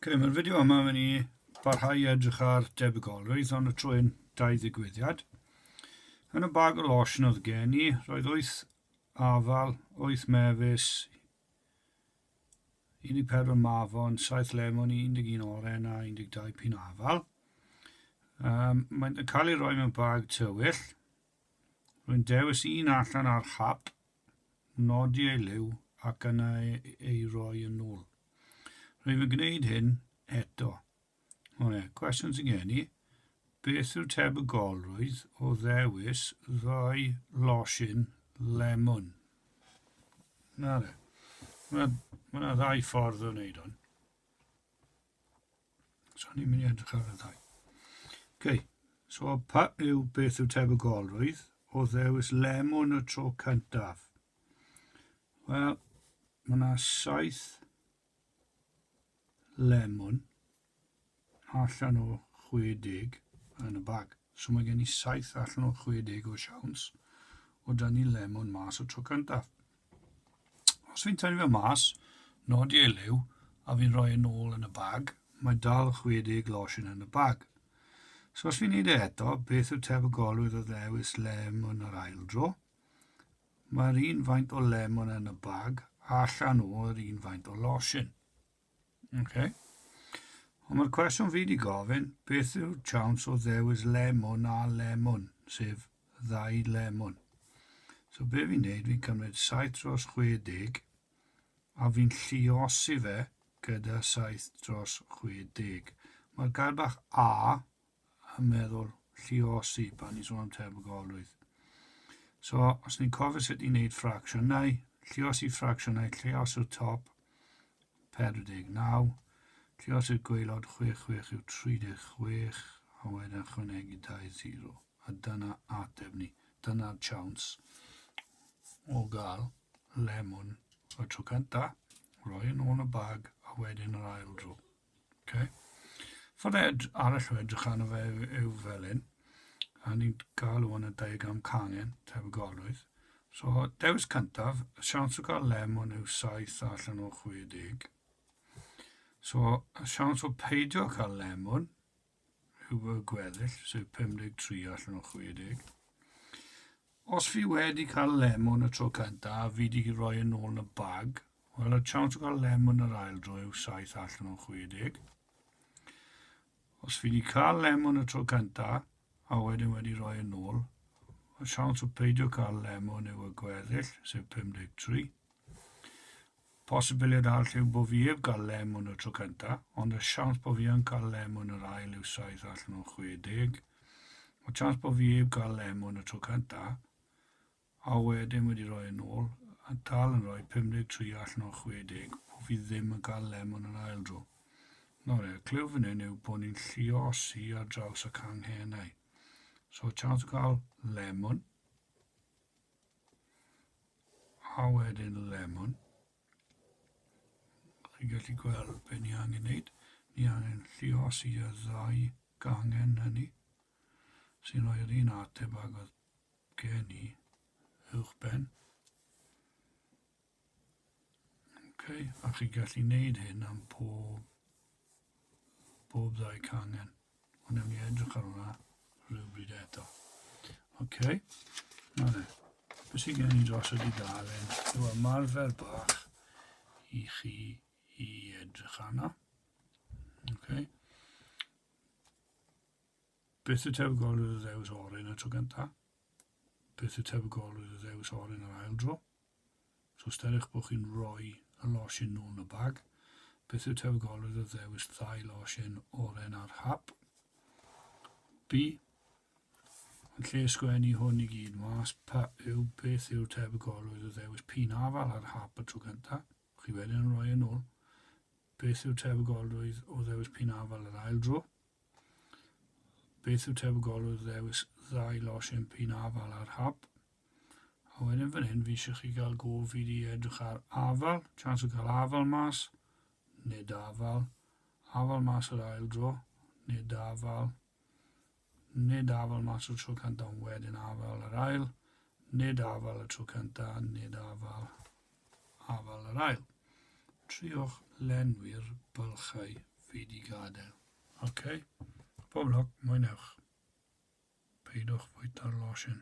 Ok, mae'r fideo yma yn mynd i barhau i edrych ar debygolrwydd ond y trwy'n dau ddigwyddiad. Yn y bag o lotion oedd gen i, roedd wyth afal, wyth mefus, 14 mafon, 7 lemon, 11 oren a 12 pin afal. Um, mae'n cael ei roi mewn bag tywyll. Rwy'n dewis un allan ar hap nodi ei liw ac yna ei roi yn ôl. Rwyf yn gwneud hyn eto. O ie, cwestiwn sy'n gen i, beth yw tebygolrwydd o ddewis ddau losin lemwn? Na de. Mae yna ddau ffordd o wneud hwn. So ni'n mynd i edrych ar y ddau. OK, so pa yw beth yw tebygolrwydd o ddewis lemon y tro cyntaf? Wel, mae yna saith lemon allan o 60 yn y bag. So mae gen i saith allan o 60 o siawns o dan ni lemon mas o tro cyntaf. Os fi'n tynnu fe mas, nodi ei liw, a fi'n rhoi yn ôl yn y bag, mae dal 60 losin yn y bag. So os fi'n neud e eto, beth yw tebygolrwydd o ddewis lemon yr ail dro? Mae'r un faint o lemon yn y bag, allan o'r un faint o losin. Ok. Ond mae'r cwestiwn fi wedi gofyn, beth yw'r chance o ddewis lemon a lemon, sef ddau lemon? So be fi'n neud, fi'n cymryd 7 dros 60 a fi'n lliosi fe gyda 7 dros 60. Mae'r gair bach A a meddwl lliosi pan ni'n sôn am tebygolrwydd. So, os ni'n cofio sut i wneud ffracsiynau, lliosi ffracsiynau, lliosi'r top 49, lliosi'r gweilod 66 yw 36, a wedyn ychwanegu 20, a dyna ateb ni. Dyna'r chawns o gael lemon y tro cyntaf, roi yn ôl y bag, a wedyn yr ail dro. Ok. Ffordd ed- arall o edrych arno fe yw, yw fel hyn, a ni'n cael hwn yn diagram cangen, tebygolrwydd. So, dewis cyntaf, y siawns o gael lemon yw 7 allan o 60. So, y siawns o peidio cael lemon y gweddill, sef 53 allan o 60. Os fi wedi cael lemon y tro cyntaf, a fi wedi rhoi yn ôl yn y bag, wel, y chance o gael lemon yr ail dro yw 7 allan o 60. Os fi wedi cael lemon y tro cyntaf, a wedyn wedi rhoi yn ôl, y siawns o peidio cael lemon yw y gweddill, sef 53. Posibiliad arall yw bo fi 'eb gael lem yn y tro cynta, ond y siawns bo fi yn cael lem yn yr ail yw saith allan o 60. Mae chance bo fi 'eb gael lem yn y tro cynta, a wedyn wedi rhoi yn ôl, a dal yn rhoi 53 allan o 60, bo fi ddim yn cael lem yn yr ail dro. Nawr, y clyw fan hyn yw bod ni'n lliosi ar draws y canghennau. So, chance o gael lemon, A wedyn lemon. Chi'n gallu gweld be ni angen wneud. Ni angen lliosi y ddau gangen hynny sy'n rhoi'r un ateb ag oedd gen i uwchben. Okay, a chi'n gallu wneud hyn am pob Bob ddau cangen. Ond newn ni edrych ar hwnna rhywbryd eto. OK. Na fe. Beth sy'n gen i dros y dudalen yw ymarfer bach i chi i edrych arno. OK. Beth y tebygol y ddews orin y tro gyntaf? Beth y tebygol y ddews orin yr ail dro? So os deuech bod chi'n rhoi y losin nôl yn y bag, beth yw tebygolrwydd o ddewis ddau losin oren ar hap? B. Yn lle sgwennu hwn i gyd mas, pa yw beth yw'r tebygolrwydd o ddewis pin afal ar hap y tro cyntaf, chi wedyn yn rhoi yn ôl? Beth yw'r tebygolrwydd o ddewis pin afal yr ail dro? Beth yw tebygolrwydd ddewis ddau losin pin afal a'r hap? A wedyn fan hyn fi eisiau chi gael go fi di edrych ar afal, chance o gael afal mas, nid afal, afal mas yr ail dro, nid afal, nid afal mas o'r tro cyntaf ond wedyn afal yr ail, nid afal y tro cyntaf, nid afal. Afael yr ail. Triwch lenwi'r bylchau fi di gadael. Ok, pob lwc, mwynhewch. Peidiwch fwyta'r losin.